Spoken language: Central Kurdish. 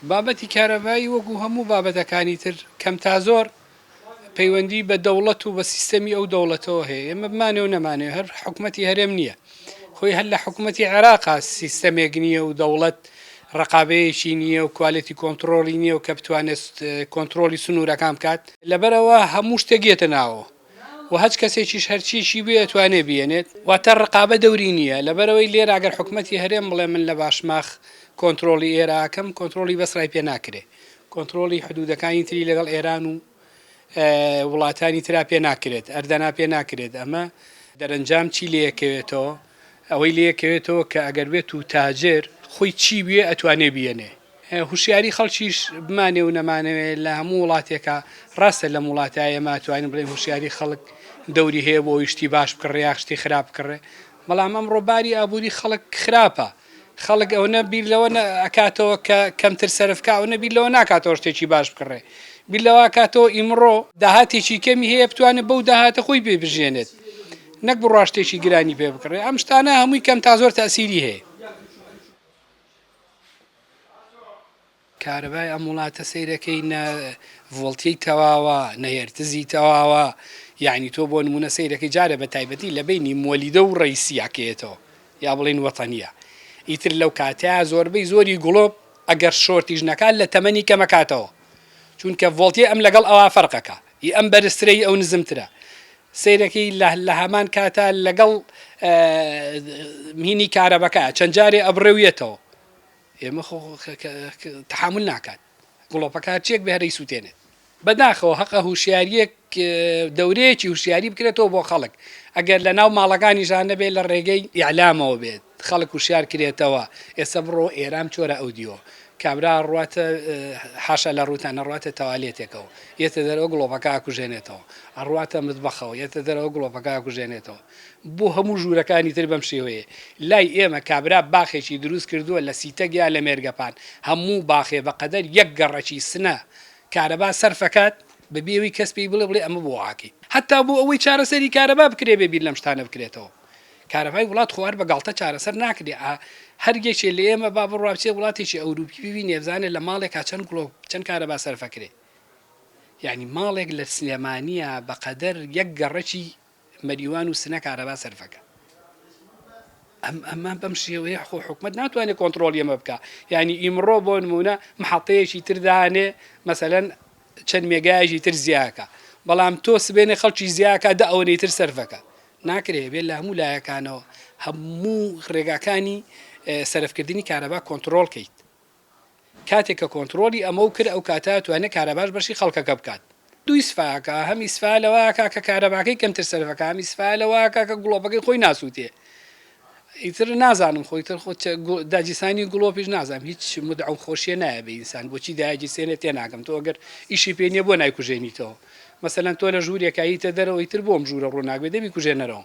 بابەتی کارەبایی وەکو هەموو بابەتەکانی تر کەم تا زۆر پەیوەندی بە دەوڵەت و بە سیستەمی ئەو دەوڵەتەوە هەیە، ئێمە بمانەوە نەمانەوێ هەر حکومەتی هەرێم نییە خۆی هەر لە حکومەتی عێراقا سیستەمێک نییە و دەوڵەت رەقابەیەکی نییە و کوالێتی کۆنتڕۆڵی نییە و کە بتوانێت کۆنتڕۆڵی سنوورەکان بکات، لەبەرئەوە هەموو شتێک یەتە ناوەوە. و هەچ کەسێکیش هەرچیەکی بوێ ئەتوانێ بیەنێت واتە رقابە دەوری نیە لەبەرئەوەی لێرە ئەگەر حکومەتی هەرێم بڵێ من لە باشماخ کۆنترۆڵی ئێرە ئەکەم کۆنترۆڵی بەسرای پێ ناکرێ کۆنترۆڵی حدودەکانی تری لەگەڵ ئێران و وڵاتانی ترا پێ ناکرێت ئەردەنا پێ ناکرێت ئەمە دەرەنجام چی لێکەوێتەوە ئەوەی لێکەوێتەوە کە ئەگەر بێت و تاجر خۆی چی بوێ ئەتوانێ بیەنێ. هوشیاری خەڵکیش بمانێ و نەمانەوێ لە هەموو وڵاتێکا ڕاستە لەم وڵاتە ئێمە توانین بڵێن هوشیاری خەڵک دەوری هەیە بۆ ئەوی شتی باش بکڕێ یا شتی خراپ بکڕێ بەڵام ئەمڕۆ باری ئابووری خەڵک خراپە خەڵک ئەوەنە بیر لەوە ئەکاتەوە کە کەمتر سەرفکە ئەوەنە بیر لەوە ناکاتەوە شتێکی باش بکڕێ بیر لەوە کاتەوە ئیمڕۆ داهاتێکی کەمی هەیە بتوانێت بەو داهاتە خۆی پێ بژێنێت نەک بڕاشتێکی گرانی پێ بکڕێ ئەم شتانە هەمووی کەم تا زۆر تاسیری هەیە کارەبای ئەم وڵاتە سەیرەکەی نە ڤۆڵتیەی تەواوە نە هێرتزی تەواوە یعنی تۆ بۆ نمونە سەیرەکەی جارە بە تایبەتی لە بینی مۆلیدە و ڕیسیاکەیەتەوە یا بڵین وەتەنیە ئیتر لەو کاتەیە زۆربەی زۆری گوڵۆپ ئەگەر شۆرتیش نەکات لە تەمەنی کەمەکاتەوە چونکە ڤۆڵتیە ئەم لەگەڵ ئەوا فەرقەکە ی ئەم بەرزترە ی ئەو نزمترە سەیرەکەی لە لەهەمان کاتا لەگەڵ مینی کارەبەکە چەند جارێ ئەبڕێویێتەوە ئێمە خۆ تحمل ناکات گڵۆپەکە چێک بهرەی سووتێنێت بەداخەوە هەقە هوشیاریەک دەورەیەکی هوشیاری بکرێتەوە بۆ خەڵک ئەگەر لە ناو ماڵەکانیشان نەبێت لە ڕێگەی یعلامەوە بێت خەڵک وشیار کرێتەوە ئێستا بڕۆ ئێرام چۆرە ئەو دیۆ کابرا ڕواتە حاشا لە ڕووتان نەڕواتە تەوالێتێکەوە یەتە دەرەوە گڵۆپەکە ئاکوژێنێتەوە ئەڕواتە متبەخەوە یەتە دەرەوە گڵۆپەکە ئاکوژێنێتەوە بۆ هەموو ژوورەکانی تر بەم شێوەیە لای ئێمە کابرا باخێکی دروست کردووە لە سیتەک یا لە مێرگەپان هەموو باخێ بەقەدەر یەک گەڕەکی سنە کارەبا سەرفەکات بەبێ ئەوی کەس پێی بڵێ بڵێ ئەمە بۆ واکەی هەتا بۆ ئەوەی چارەسەری کارەبا بکرێ بێ بیر لەم شتانە بکرێتەوە. کارەبای وڵات خۆ هەر بە گاڵتە چارەسەر ناکرێ ئا هەر یەکێ لە ئێمە با بڕوا بچێ وڵاتێکی ئەوروپی ببینێ بزانێ لە ماڵێکا چەند گڵۆ و چەند کارەبا سەرف ئەکرێ یانی ماڵێک لە سلێمانییە بە قەدەر یەک گەڕەکی مەریوان و سنە کارەبا سەرف ئەکا ئەم ئەمە بەم شێوەیە خۆ حکومت ناتوانێت کۆنتترۆل ئەمە بکە یعنی ئیمڕۆ بۆ نمونە مححڵتەیەکی تردانێ مەسەەن چەند مێگایشی تر زیاکە بەڵام تۆ سبێنێ خەڵکی زیاکە دە ئەوەی تر سەرفەکە ناکرێ بێت لە هەموو لایەکانەوە هەموو ڕێگاکانی سەرفکردنی کارەبا کۆنتڕۆڵ کەیت کاتێک کە کۆنتڕۆڵی ئەمەو کرد ئەو کاتە توانێت کارەباش بەشی خەڵکەکە بکات دوو ئیسفاکە هەم ئیسفا لەوە ئاکا کە کارەباکەی کەمتر سەرفەکا هەم ئیسفا لەوە ئاکا کە گڵۆپەکەی خۆی ناسووتێ ئیتر نازانم خۆی تر خۆ داگیرسانی گڵۆپیش نازانم هیچ مدعە و خۆشیە نایە بە ئینسان بۆچی داگیرسێنێ تێ ناگەم تۆ ئەگەر ئیشی پێ نییە بۆ نایکوژێنیتەوە مەسەلەن تۆ لە ژوورێکایی تە دەرەوەی تر بۆم ژوورە ڕووناکبێ دەبی کوژێنەرەوە